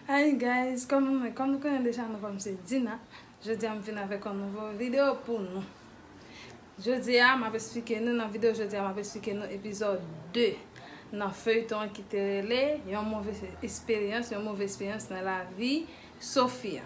Hi guys, kòm nou konnen deja nou konn m se Dina Jodi a m vin avèk yon nouvo video pou nou Jodi a m ap esplike nou nan video jodi a m ap esplike nou epizòd 2 nan feyton an ki te rele yon move esperyans yon move esperyans nan lavi Sofia.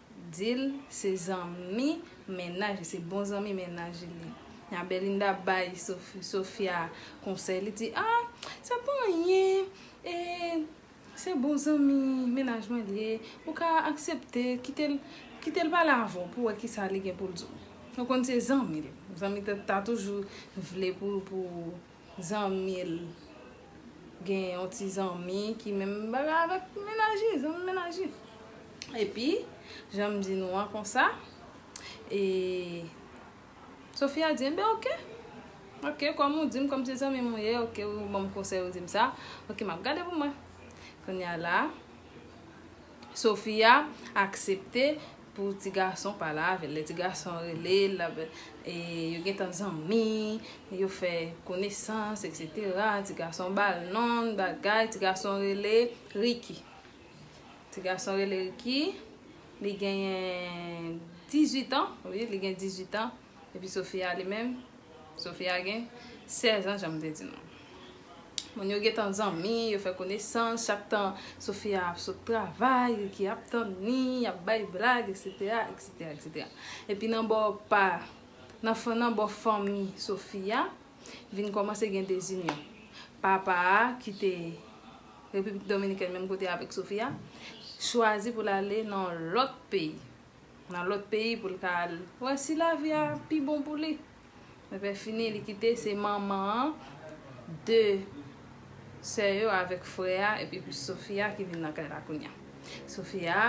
Dil se zanmi mennaj li se bon zanmi mennaj li nya Belinda bay Sofia konsèy li di ah sa pa anyen se bon zanmi mennaj mwen li ye ou ka aksepte kitel pale avèw pou wè kisa li gen poul diw ou konn se zanmil zanmi ta toujou vle pou Zanmi l gen yon ti zanmi ki menm bagay avèk mennaj li, zanmi mennaj li. Epi, jan m di nou an konsa, e Sofia di, enben ok, ok, kòm ou di m, kòm se zanmi m ou ye, ok, ou ban m konsèy, ou di m sa, ok, m ap gade pou mwen. Kounye a la. Sofia aksepte pou ti gason pale avèl lè ti gason rele lap e yo gentan zanmi yo fè konesans etc ti gason bal non bagay ti gason rele Ricky ti gason rele Ricky li genyen 18 ans wi li gen 18 ans. Epi Sofia li menm? Sofia gen 16 an jan m te di nou. Moun yo gentan zanmi, yo fè konesans, chak tan Sofia ap sot travay, Ricky ap tann li, y ap bay blag, eksetera, eksetera, eksetera. Epi nan bò pa, nan bò fanmi Sofia, vin kòmanse gen dezinyon. Papa a ki te Repiblik Dominikèn menm kote avèk Sofia, chwazi pou l ale nan yon lòt peyi. Nan lòt peyi pou l ka al wè si lavi a pi bon pou li. Epi fini li kite se manman an, 2 sè yo avèk frè a epi pou Sofia ki vin nan kay la kounya. Sofia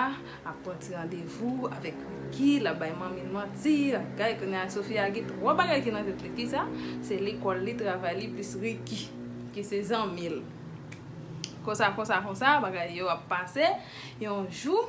ap pran ti randevou avèk Ricky, l ap bay manmi l manti, l ap gay kounya Sofia gen twò bagay ki nan tèt li. Kisa? Se lekòl li, travay li plis Ricky ki se zanmi l. Konsa konsa konsa bagay yo ap pase yon jou.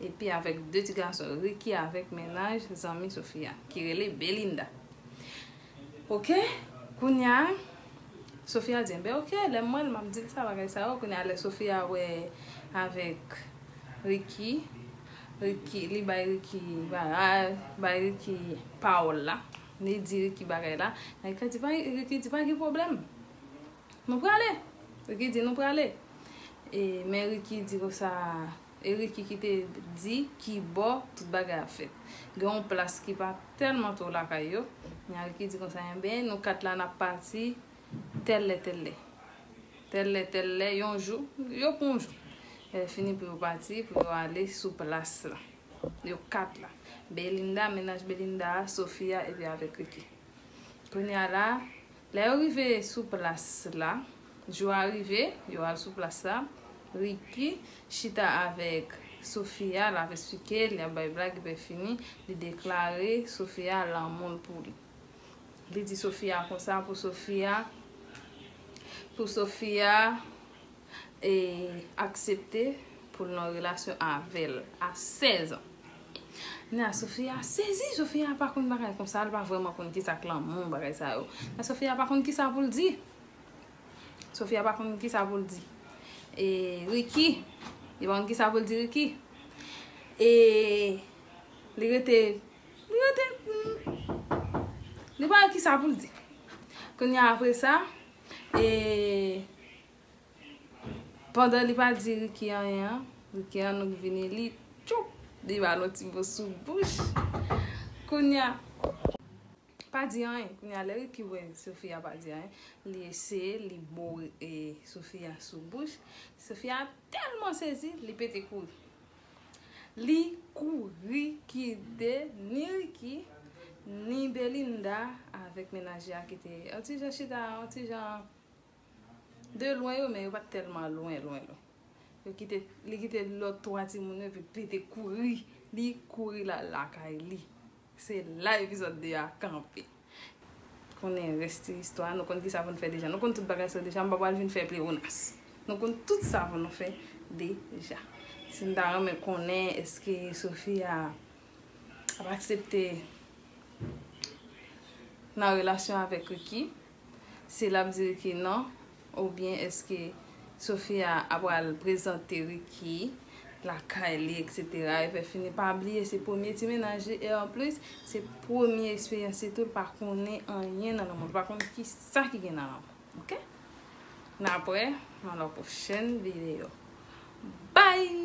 Epi avèk 2 ti gason Ricky avèk mennaj zanmi Sofia ki rele Belinda Ok kounya Sofia di enben ok lèm wèl map dil sa bagay sa yo kounya lè Sofia wè avèk Ricky Ricky li bay Ricky bagay bay Ricky pawòl la li di Ricky bagay la Ricky di pa gen problèm. Nou prale! Ricky di, Nou prale! E men Ricky di konsa, e Ricky ki te di ki bò tout bagay ap fèt. Gen yon plas ki pa tèlman twò lakay yo, nya Ricky di konsa, enben, nou kat la n ap pati tèl lè tèl lè. Tèl lè tèl lè, yon jou, yo pran yon jou. Lèfini pou yo pati, pou yo ale sou plas la. Yo kat la. Belinda, mennaj Belinda a, Sofia epi avèk Ricky. Kounye a la, Lè yo rive sou plas la, jou a rive, yo al sou plas la, Ricky chita avèk Sofia, l ap esplike l, y ap bay blag epi fini, li deklare Sofia lanmou l pou li. Li di Sofia konsa pou Sofia, pou Sofia e aksepte pou l nan relasyon avè l a 16 an. Nan Sofia sezi, Sofia pa konn bagay konsa, li pa vrèman konn kisa k lanmou bagay sa yo. Nan Sofia pa konn kisa pou l di. Sofia pa konn kisa pou l di. E Ricky, li pa konn kisa pou l di Ricky. E li rete, li rete, li pa konn kisa pou l di. Kounya apre sa, e. Pandan li pa di Ricky anyen an, Ricky annik vini li tchoup li ba l yon ti mo sou bouch. Kounya, pa di anyen. Kounya lè Ricky wè Sofia pa di anyen, li eseye li bo Sofia sou bouch. Sofia tèlman sezi, li pete kouri. Li kouri kite ni Ricky, ni Belinda avèk menaj li a ki te yon ti jan chita, yon ti jan. De lwen yo men yo pat tèlman lwen lwen lwen. Yo kite, li kite lòt 3 timoun yo epi li te kouri, li kouri lal lakay li. Se la epizòd 2 a kanpe. Konnen rès ti istwa a, nou konn kisa pou n fè deja. Nou konn tout bagay sa yo deja, m pa pral vin fè plewonas. Nou konn tout sa pou nou fè deja. Si n ta renmen konnen èske Sofia ap aksepte nan relasyon avèk Ricky, Si lap di Ricky non oubyen eske Sofia a pral prezante Ricky lakay li etc e fè fini pa bliye se premye ti mennaj li e anplis se premye eksperyans li tou li pa konnen anyen nan lanmou li pa konnen kisa ki gen nan lanmou ok nan aprè nan lò pwochèn video bye.